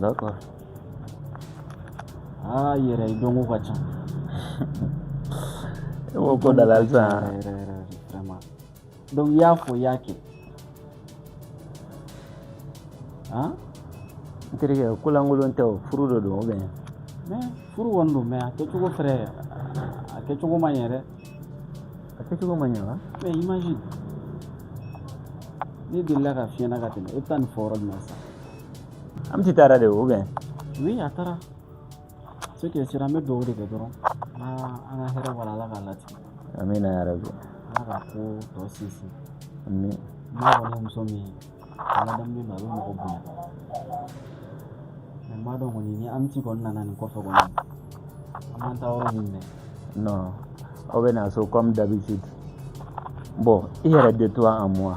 D'accord. Ah, yɛrɛ dɔnko ka ca. E b'o ko dala halisa. Yɛrɛ yɛrɛ yɛrɛ vraiment. Donc i y'a fɔ i y'a kɛ. Han? N terikɛ ko lankolon tɛ o furu de don ou bien? Mais furu kɔni don mais a kɛcogo frère a kɛcogo ma ɲɛ dɛ. A kɛcogo ma ɲɛ wa? Mais imagine ne delila ka fiyɛna ka tɛmɛ e bɛ taa nin fɔ yɔrɔ jumɛn sisan? amiti taara de ou bien oui a taara ce qui est sûr an bɛ dugawu de kɛ dɔrɔn an ka hɛrɛ b'a la ala k'a latigɛ amina ya rabi ala ka ko tɔ sinsin amin n'a kɔni muso min ye ala daminɛ na a bɛ mɔgɔ bonya mais n m'a dɔn kɔni ni amiti kɔni nana nin kɔfɛ kɔni an bɛna taa yɔrɔ min mɛn non aw bɛ na so comme d'habitude bon i yɛrɛ de toi à moi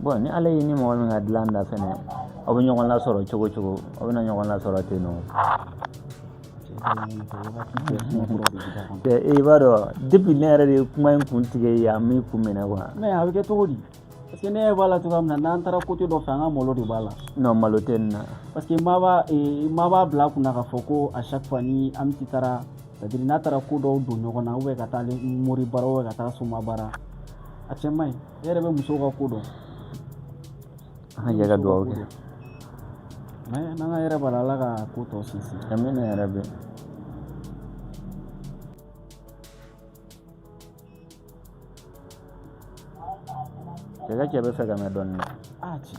bon ni ala y'i ni mɔgɔ min ka dilan da fɛnɛ aw bɛ ɲɔgɔn lasɔrɔ cogo cogo aw bɛna ɲɔgɔn lasɔrɔ ten non i b'a dɔn depuis ne yɛrɛ de ye kuma in kuntigi ye a min kun minɛ quoi mais a bɛ kɛ cogo di parce que ne ɲɛ b'a la cogoya min na n'an taara côté dɔ fɛ an ka malo de b'a la non malo tɛ nin na parce que maa b'a eh, maa b'a bila a kunna k'a fɔ ko à chaque fois ni amiti taara c'est à dire n'a taara ko dɔw don ɲɔgɔn na ou bien ka taa mori baara ou bien ka taa soma baara a cɛ man ɲi ne yɛrɛ bɛ musow ka ko dɔn an ka jɛ ka dugawu kɛ mais n'an ka hɛrɛ b'a la ala ka ko tɔ sinsin amina ya rabi cɛ ka cɛ bɛ fɛ ka mɛn dɔɔnin dɛ a ci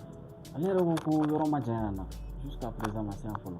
ale yɛrɛ ko ko yɔrɔ ma janya na jusqu'à présent ma se yan fɔlɔ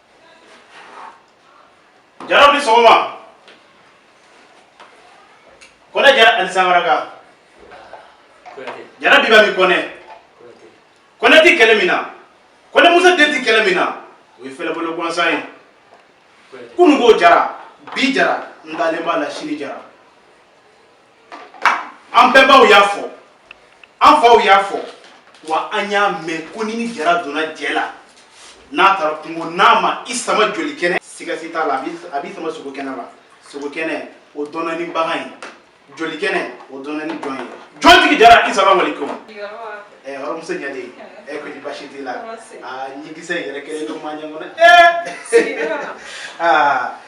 jaraw ni sɔgɔma kɔnɛ jara ani sankaranka jara biba ni kɔnɛ kɔnɛ ti kɛlɛ min na kɔnɛ musa den ti kɛlɛ min na o ye fɛlɛbolo gansan ye kunu ko jara bi jara n dalen b'a la sini jara an bɛnbaw y'a fɔ an faw y'a fɔ wa an y'a mɛn ko ni ni jara donna jɛ la n'a taara kungo n'a ma i sama joli kɛnɛ siga si t'a la a b'i sama sogo kɛnɛ la sogo kɛnɛ o dɔnna ni bagan ye joli kɛnɛ o dɔnna ni jɔn ye jɔn tigi jara asalamu alekum ɛ hɔrɔnmuso ɲade ɛ ko ni basi t'i la aa ɲɛkisɛ yɛrɛ kɛlen don maa ɲɛ kɔnɔ ɛ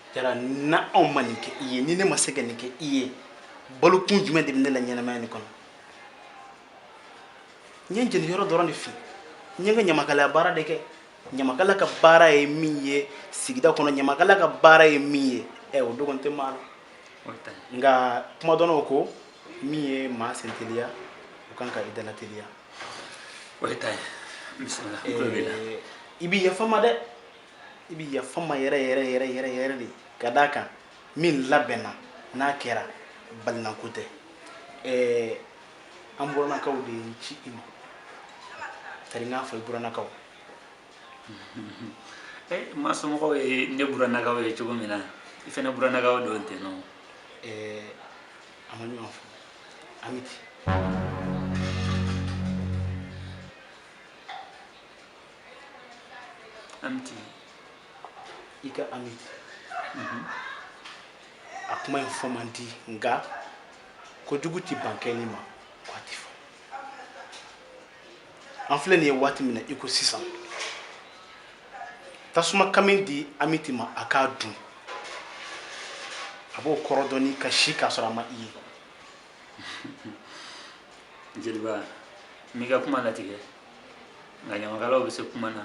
jara n'anw ma nin kɛ i ye ni ne ma se ka nin kɛ i ye balokun jumɛn de bɛ ne la ɲɛnamaya nin kɔnɔ n ye n jeni yɔrɔ dɔrɔn de fiyɛ n ye n ka ɲamakalaya baara de kɛ ɲamakala ka baara ye min ye sigida kɔnɔ ɲamakala ka baara ye min ye ɛ o dogon tɛ maa la nka kuma dɔnnaw ko min ye maa senteliya o kan ka i dalateliya o ye i ta ye bisimila i bɛ yafa n ma dɛ i bɛ yafa n ma yɛrɛ yɛrɛ yɛrɛ yɛrɛ yɛrɛ de ka d'a kan min labɛnna n'a kɛra balinako tɛ ɛɛ an buranakaw de ye n ci i ma tari n k'a fɔ i buranakaw eh, ma somɔgɔw ye ne buranakaw ye cogo min na i fana buranakaw don ten nɔ eh, a ma ɲɔgɔn fɔ amiti Amiti. I ka Amiti. Mhm. A kuma in fɔ man di nka kojugu tɛ ban kɛli ma ko a tɛ fɔ. An filɛ nin ye waati min na i ko sisan tasuma kami di Amiti ma a k'a dun a b'o kɔrɔ dɔn ni ka si k'a sɔrɔ a ma i ye. jeliba n m'i ka kuma latigɛ nka ɲamakalaw bɛ se kuma na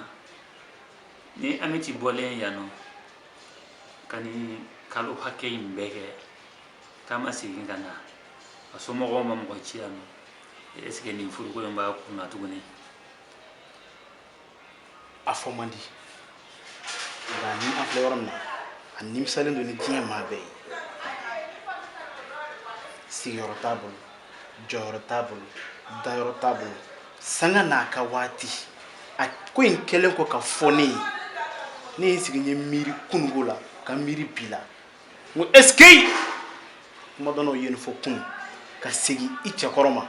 ni amiti bɔlen yan nɔ ka nin kalo hakɛ in bɛɛ kɛ k'a ma segin ka na a somɔgɔw ma mɔgɔ ci yan nɔ est ce que nin furuko in b'a kun na tuguni a fɔ man di nka ni a filɛ yɔrɔ min na a nimisalen don ni diɲɛ maa bɛɛ ye sigiyɔrɔ t'a bolo jɔyɔrɔ t'a bolo dayɔrɔ t'a bolo sanga n'a ka waati a ko in kɛlen kɔ k'a fɔ ne ye ne ye n sigi n ye miiri kununko la ka miiri bi la n ko ɛsike kuma dɔnnaw ye nin fɔ kunun ka segin i cɛ kɔrɔ ma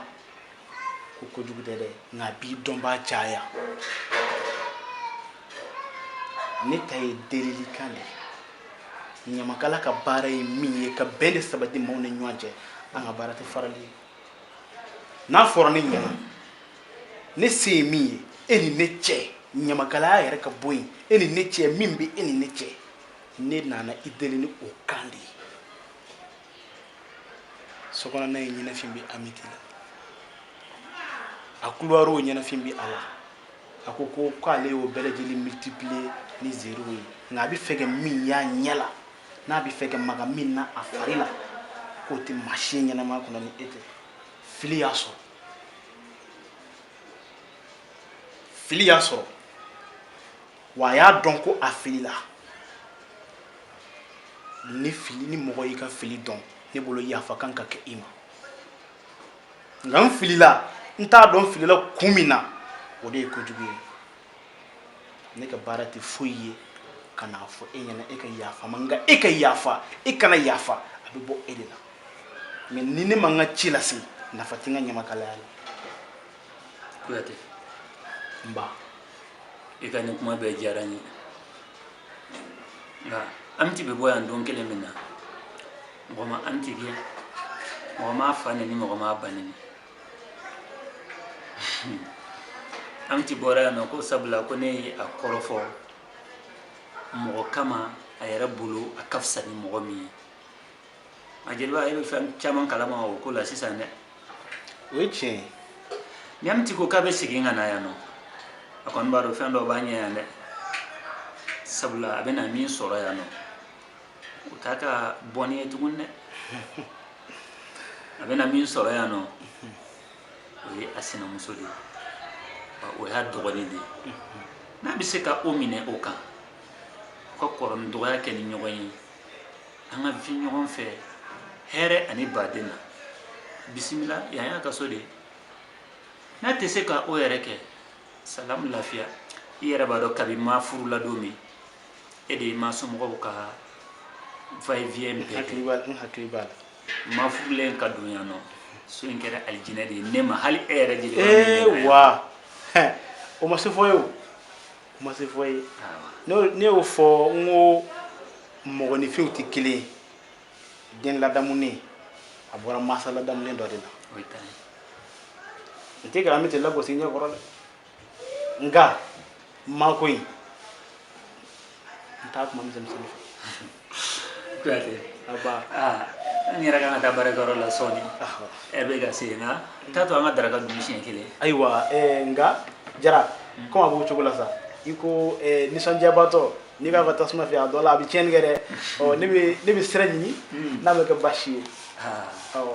ko kojugu tɛ dɛ nka a b'i dɔnbaa caya ne ta ye delilikan de ye ɲamakala ka baara ye min ye ka bɛn de sabati maaw ni ɲɔgɔn cɛ an ka baara tɛ farali ye n'a fɔra ne ɲɛna ne se ye min ye e ni ne cɛ ɲamakalaya yɛrɛ ka bɔ yen e ni ne cɛ min bɛ e ni ne cɛ ne nana i deli ni o kan de ye sokɔnɔna ye ɲɛnafin bɛ amiti la a couloir ɲɛnafin bɛ a la a ko ko k'ale y'o bɛɛ lajɛlen multiplier ni zéro ye nka a bɛ fɛ ka min y'a ɲɛ la n'a bɛ fɛ ka maga min na a fari la k'o tɛ maa si ye ɲɛnamaya kɔnɔ ni e tɛ fili y'a sɔrɔ fili y'a sɔrɔ wa a y'a dɔn ko a filila ni fili ni mɔgɔ y'i ka fili dɔn ne bolo yafa kan ka kɛ i ma nka n filila n t'a dɔn filila kun min na o de ye kojugu ye ne ka baara tɛ foyi ye ka n'a fɔ e ɲɛna e ka yafa ma nka e ka yafa e kana yafa a bɛ bɔ e de la mɛ ni ne ma n ka ci lase nafa tɛ n ka ɲamakalaya la kuyate n ba i ka nin kuma bɛɛ diyara n ye nka amiti bɛ bɔ yan don kelen min na mɔgɔ ma amiti gɛn mɔgɔ m'a fa neni mɔgɔ m'a ba neni amiti bɔra yan nɔ ko sabula ko ne ye a kɔrɔfɔ mɔgɔ kama a yɛrɛ bolo a ka fisa ni mɔgɔ min ye a jeliba e bɛ fɛn caman kalama o ko la sisan dɛ o ye tiɲɛ ye n'amiti ko k'a bɛ segin ka na yan nɔ a kɔni b'a dɔn fɛn dɔ b'a ɲɛ yan dɛ sabula a bɛna min sɔrɔ yan nɔ o t'a ka bɔnni ye tuguni dɛ a bɛna min sɔrɔ yan nɔ o ye a sinamuso de ye o y'a dɔgɔnin de ye n'a bɛ se ka o minɛ o kan u ka kɔrɔ ni dɔgɔya kɛ ni ɲɔgɔn ye an ka vi ɲɔgɔn fɛ hɛrɛ ani baden na bisimila yan y'a ka so de n'a tɛ se ka o yɛrɛ kɛ salamu lafiya i yɛrɛ b'a dɔn kabi ma furula don min e de ye ma somɔgɔw ka va-et-vient bɛɛ kɛ n hakili b'a la ma furulen ka don yan nɔ so in kɛra alijinɛ de ye ne ma hali e yɛrɛ jeli ee wa hɛ, o ma se fɔ ye o ma se fɔ ye ne y'o fɔ n ko mɔgɔninfinw tɛ kelen ye den ladamunen a bɔra masa ladamunen dɔ de la n tɛ ka amiti lagosi ɲɛ kɔrɔ dɛ nka ma ko in n t'a kuma misɛnmisɛnnin fɛ kuyate aba aa n yɛrɛ kan ka taa baarakɛyɔrɔ la sɔɔni lɛrɛ bɛ ka se nka t'a to an ka daraka dun siɲɛ kelen ayiwa eh, nka jara kɔmi a b'o cogo la sa i ko eh, nisɔndiyabaatɔ n'i b'a ka tasuma fɛ a dɔ la a bɛ tiɲɛni kɛ dɛ ɔ ne bɛ ne bɛ sira ɲini n'a ma kɛ baasi ye aa awɔ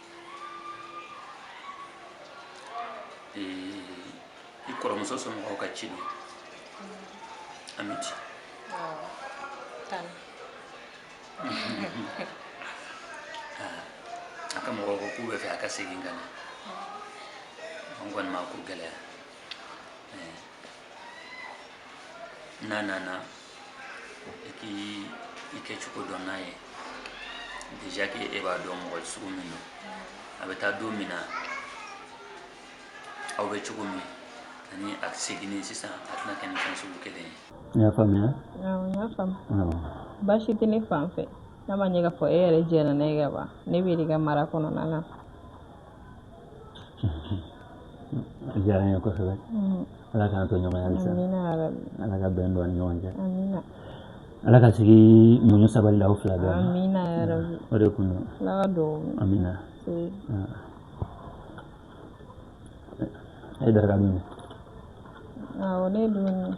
i kɔrɔmuso somɔgɔw ka ci don amiti a ka mɔgɔw ko k'u bɛ fɛ a ka segin ka na an kɔni ma ko gɛlɛya n'a nana i k'i i kɛcogo dɔn n'a ye déjà que e b'a dɔn mɔgɔ sugu min don a bɛ taa don min na aw bɛ cogo min ani a ka seginni sisan a tɛna kɛ ni fɛn sugu kelen ye n y'a faamuya awɔ n y'a faamu awɔ baasi tɛ ne fan fɛ n'a ma ɲɛ k'a fɔ e yɛrɛ jɛnna n'a ye ka ban ne b'i de ka mara kɔnɔna na a diyara n ye kosɛbɛ ala k'an to ɲɔgɔn ye halisa ala ka bɛn don an ni ɲɔgɔn cɛ ala ka sigi muɲu sabali di aw fila bɛɛ ma amina o de kun don amina a ye daraka dun awɔ ne dun